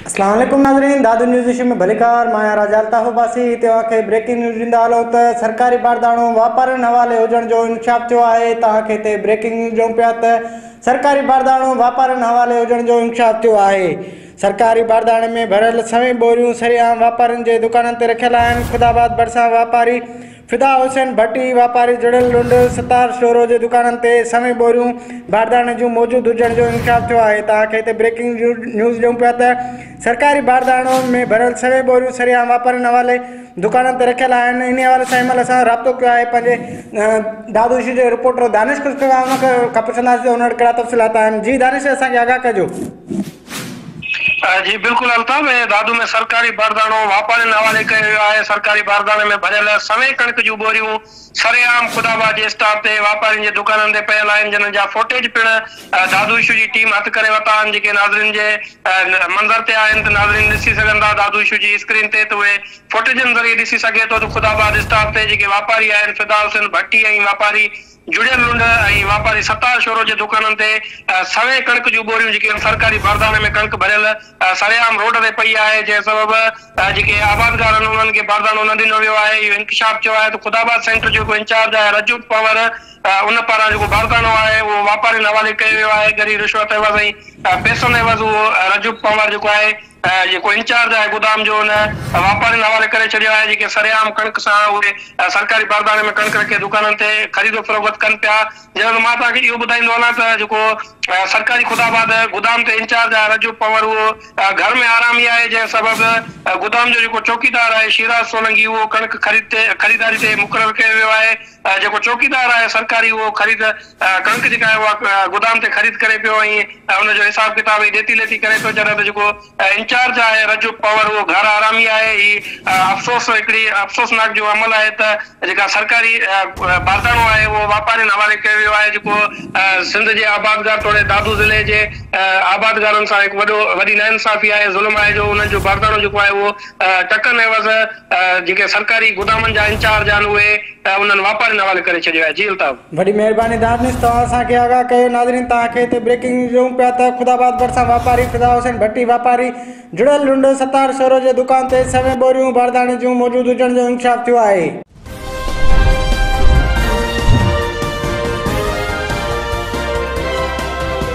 اسلام عليڪم ناظرين دادو نيوز ايشو ۾ ڀليڪار مان آهيان راجا الطاف عباسي هتي اوهان کي بريڪنگ نيوز ڏيندا هلون ته سرڪاري بارداڻو واپارين حوالي هجڻ جو انڪشاف ٿيو آهي توهان کي هتي بريڪنگ نيوز ڏيون پيا ته سرڪاري بارداڻو واپارين حوالي هجڻ جو انڪشاف ٿيو آهي سرڪاري بارداڻي ۾ ڀريل سوين ٻوريون سرعام واپارين جي دڪانن تي رکيل آهن خداآباد ڀرسان واپاري فدا حسين ڀٽي، واپاري جڙيل ڏنڊ ستار شورو جي دڪانن تي سوين ٻوريون بارداڻي جون موجود هجڻ جو انڪشاف ٿيو آهي توهان کي هتي بريڪنگ نيوز ڏيون پيا ته سرڪاري بارداڻو ۾ ڀريل سوين ٻوريون سرعام واپارين حوالي دڪانن تي رکيل آهن انهي حوالي سان هن مهل اسان رابطو ڪيو آهي پنهنجي دادوشي جي رپورٽر دانش کي پڇنداسين ته هن وٽ ڪهڙا تفصيلات آهن جي دانش اسان کي آگاهه ڪجو جي بلڪل الطاف ۽ دادو ۾ سرڪاري بارڌاڻو واپارين حوالي ڪيو ويو آهي، سرڪاري بارڌاڻي ۾ ڀريل سوين ڪڻڪ جون ٻوريون سري عام خدا آباد جي اسٽاپ تي واپارين جي دڪانن تي پيل آهن جنھن جا فوٽيج پڻ دادو اشو جي ٽيم هٿ ڪري ورتا آهن جيڪي ناظرين جي منظر تي آهن ته ناظرين ڏسي سگهن ٿا دادو اشو جي اسڪرين تي ته اهي فوٽيجن ذريعي ڏسي سگهي ٿو ته خدا آباد اسٽاپ تي جيڪي واپاري آهن فدا حسين ڀٽي ۽ واپاري جڙيل لنڊ ۽ واپاري ستار شورو جي دڪانن تي سوين ڪڻڪ جون ٻوريون جيڪي هن سرڪاري بارداڻي ۾ ڪڻڪ ڀريل سري عام روڊ تي پئي آهي جنهن سبب جيڪي آبادگار آهن انهن کي بارداڻو نه ڏنو ويو آهي اهو انڪشاف چيو آهي ته خداآباد سينٽر جو جيڪو انچارج آهي رجب پنور ان پاران جيڪو بارداڻو آهي اهو واپارين حوالي ڪيو ويو آهي ڳري رشوت عيوض ۽ پئسن عيوض اهو رجب پنور جيڪو آهي جيڪو انچارج آهي گودام جو ان واپارين حوالي ڪري ڇڏيو آهي جيڪي سرعام ڪڻڪ سان اهي سرڪاري باربارن ۾ ڪڻڪ رکي دڪانن تي خريد و فروخت ڪن پيا جنهن مان توهان کي اهو ٻڌائيندو هلان ته جيڪو سرڪاري خداباد گودام تي انچارج آهي رجب پنور اهو گهر ۾ آرام ئي آهي جنهن سبب گودام جو جيڪو چوڪيدار آهي شيراز سولنگي اهو ڪڻڪ خريد تي خريداري تي مقرر ڪيو ويو آهي جيڪو چوڪيدار آهي سرڪاري اهو خريد ڪڻڪ جيڪا آهي اها گدام تي خريد ڪري پيو ۽ ان جو حساب ڪتاب ۽ ڏيتي ليتي ڪري پيو جڏهن ته جيڪو انچارج آهي رجب پنور اهو گهر آرامي آهي هي افسوس هڪڙي افسوسناڪ جو عمل آهي ته جيڪا سرڪاري بارتاڻو آهي اهو واپارين حوالي ڪيو ويو آهي جيڪو سنڌ جي آبادگار توڙي دادو ضلعي جي آبادگارن سان هڪ وڏو وڏي ناانصافي آهي ظلم آهي جو انهن جو بارتاڻو جيڪو آهي اهو ٽڪن عيوض جيڪي سرڪاري گودامن جا انچارج آهن اهي انهن واپارين حوالي ڪري ڇڏيو آهي جي الطاف. وڏي مهرباني دانش توهان اسان کي آگاهه ڪيو ناظرين توهان کي هتي بريڪنگ نيوز ڏيون پيا ته خدا آباد ڀرسان واپاري فدا حسين ڀٽي واپاري جڙيل لنڊو ستار شورو جي دڪان تي سوين ٻوريون بارداڻي جون موجود هجڻ جو انڪشاف ٿيو آهي.